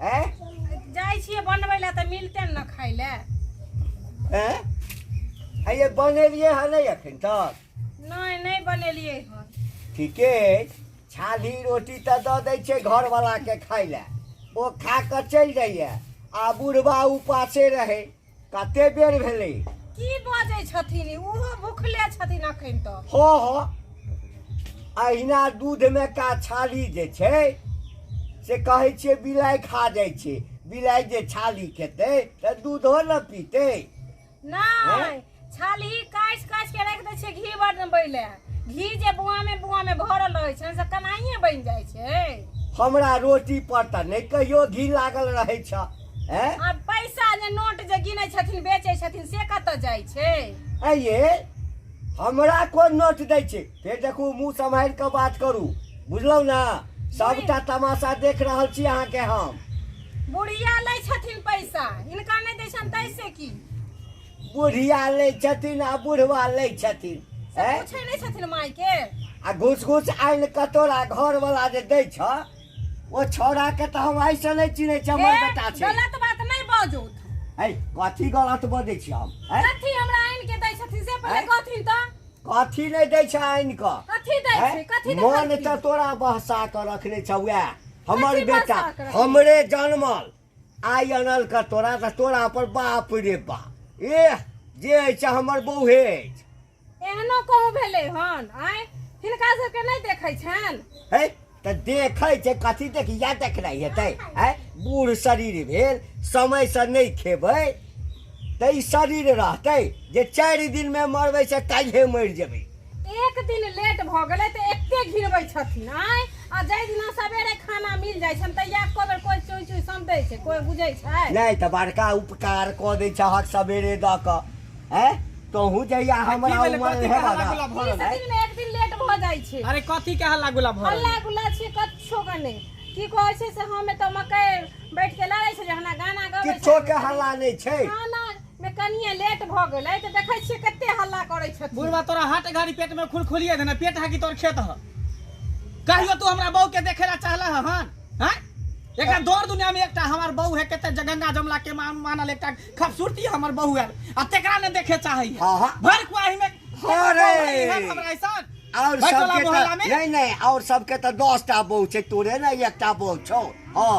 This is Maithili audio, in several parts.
हैं जाइ छियै बनबै लए तऽ मिलते ने खाय लए हैं आ ये बनेलिए है नहीं अखन तक नहि नहि बनेलियै हन ठीके अछि छाली रोटी तऽ दऽ दै छै घरवलाके खाय लए ओ खा कऽ चलि जाइए आ बुढ़बा उपासे रहै कते बेर भेलै की बजै छथिन ओहो भुखले छथिन अखन तऽ हँ हँ अहिना दूधमे का छाली जे छै से कहै छियै बिलाइ खा जाइ छै बिलाइ जे छाली खेतै तऽ दूधो ने पीतै नहि छाल्ही काटि काटि कऽ राखि दै छियै घी बनबै लए घी जे बुआमे बुआमे भरल रहै छनि से कनाइए बनि जाइ छै हमरा रोटी पर तऽ नहि कहियो घी लागल रहै छ ए आ पैसा जे नोट जे गिनै छथिन बेचै छथिन से कतऽ जाइ छै ऐ ये हमरा कोन नोट दै छै फेर देखू मुंह सम्हारि कऽ बात करू बुझलहुँ ने सबटा तमाशा देख रहल छी अहाँके हम बुढ़िया लै छथिन पैसा हिनका नहि दै छनि तैसे की बुढ़िया लै छथिन आ बुढ़वा लै छथिन से ऐ? पूछै नहि छथिन माय के आ घुस घुस आनि कटोरा घर वाला जे दै छ ओ छौड़ा के तऽ हम आइ से नहि चिन्है छी हमर ए, बेटा छै गलत बात नहि बाजू ऐ कथी गलत बजै छी हम ऐ कथी हमरा आनि के दै छथिन से पहिले ऐ? कहथिन तऽ कथी नहि दै छै आनि कऽ कथी दै ऐ? छै कथी दै मन छथिन? तऽ तोरा बहसा कऽ रखने छ वएह हमर कथी बेटा बहसा कऽ रखने? हमरे जनमल आइ अनलका तोरा तऽ तोरा पर बाप रे बाप एह जे अछि हमर बौहे अछि एहनो कहूँ भेलै हन आँय हिनका सबके नहि देखै छनि है तऽ देखै छै कथी देख इएह देखनाइ हेतै है बूढ़ शरीर भेल समयसँ नहि खेबै तऽ ई शरीर रहतै जे चारि दिनमे मरबै से काल्हिए मरि जेबै एक दिन लेट भऽ गेलै तऽ एते घिनबै छथिन आँय आ जाहि दिना सवेरे खाना मिल जाइ छनि तहिया एको बेर कोइ चुई चुई समझै छै कोइ बुझै छै नहि तऽ बड़का उपकार कऽ दै छहक सवेरे दऽ कऽ हैं तोहूँ जहिया हमरा भेलै, उमर कथी हेबा कहला गुला भरल? बीस दिन मे एक दिन लेट भऽ जाइ छै अरे कथी के हल्ला गुला भरल हल्ला गुल्ला छियै कच्छो के नहि की कहै छै से हम एतऽ मकई बैठ के लड़ै छलियै हमरा गाना गबै किछो के हल्ला नहि छै खाना मे कनिए लेट भऽ गेलै तऽ देखै छियै कते हल्ला करै छथिन बुढ़वा तोरा हाट गाड़ी पेट में खुल खुलिए देना पेट है कि तोर खेत है कहियो तू हमरा बहू के देखे ला चाहला है हन हैं? एकरा दौड़ दुनिया में एकटा हमार बहू है कते जगंगा जमला के मान मानल एकटा खूबसूरती है हमर बहू है आ तेकरा ने देखे चाहे है हाँ, हाँ। भर कुआही में हाँ रे। हन हमरा ऐसन और भर टोला सबके मोहल्ला तऽ में नहीं नहीं और सबके तऽ दस टा बहू छै तोरे ने एकटा बहू छौ हाँ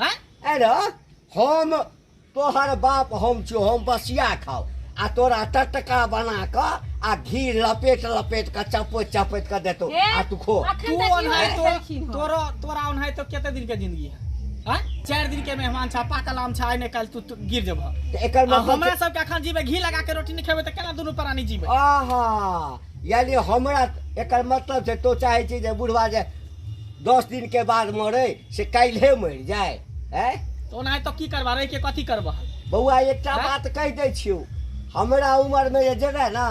हैं? अरे हम तोहर बाप हम छियो हम बसिया खाओ आ तोरा टटका बना क आ घी लपेट लपेट क चपोत चपोत क देतो हे? आ तू खो अखन तू तक ओन है इहो तो खेलखिन हँ। तोरो तोरा ओन है तो कते दिन के जिंदगी है हैं? चार दिन के मेहमान छा पाकल आम छा आइ ने काल तू तू गिर जब त एकर आ मतलब हमरा सब के अखन जीवे घी लगा के रोटी नहीं खेबे त केना दुनु प्राणी जीवे आहा यानी हमरा एकर मतलब छै तो चाहे छी जे बुढ़वा जे दस दिन के बाद मरे से काल्हे मरि जाए है तो ओनाहे तो की करबा रहि के कथी करबा बौआ एकटा हैं? बात कहि दै छियौ हमरा उम्र में जे जेबै ना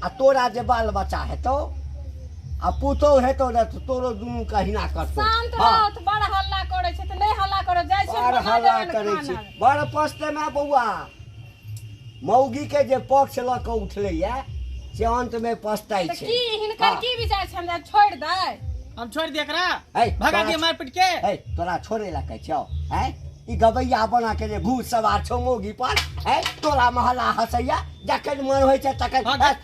आ तोरा जे बाल बच्चा हेतौ आ पुतौ हेतौ ने तऽ तोरो दुनू के अहिना करतौ शांत हाँ। रहत बड़ हल्ला करे छै त नहीं हल्ला करे जाय छै बड़ हल्ला करै छी बड़ पछते में बौआ मौगी के जे पक्ष ल क उठले या से अंत में पछताई छे की हिनकर हाँ। की विचार छे हमरा छोड़ दे हम छोड़ दे एकरा भगा दे मार पीट के ए तोरा छोड़े ला कह छौ ए ई गबैया बना के जे भूत सवार छौ मौगी पर ए तोरा महला हसैया जखन मन होय छे तखन हाँ,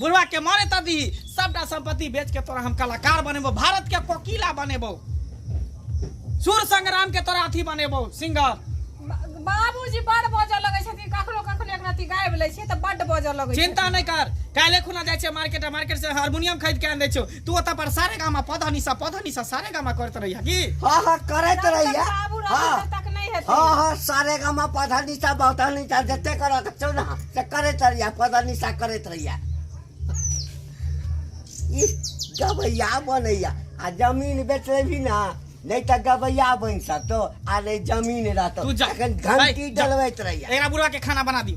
बुढ़वा के मारे त दी सबटा संपत्ति बेच के तोरा हम कलाकार बनेबो भारत के कोकिला बनेबो सूर संग्राम के तोरा अथी बनेबो सिंगर बाबूजी बड़ बजऽ लगै छथिन कखनो कखनो एक रति गाबि लै छियै तऽ बड्ड बजऽ लगै छथिन चिंता नहीं कर काले खुना जाए छे मार्केट मार्केट से हारमोनियम खरीद के आन दे छो तू ओतऽ पर सारे गामा पधा निशा पधा निशा सारे गामा करत रही की हाँ हाँ करत जब तक रहिया बाबू रहत हाँ तब तक नहीं हेतै हाँ हाँ सारे गामा पधा निशा बहता निशा जते करत छौ ना से करत रहिया पधा निशा करत रहिया ई गबैया बनैया आ जमीन बेच लेबी ना नहीं तो गबैया बन सकतो आ नहीं जमीन रहतो तू जा अखन भाई, घंटी जा। डलबैत रहिया एकरा बुढ़वा के खाना बना दी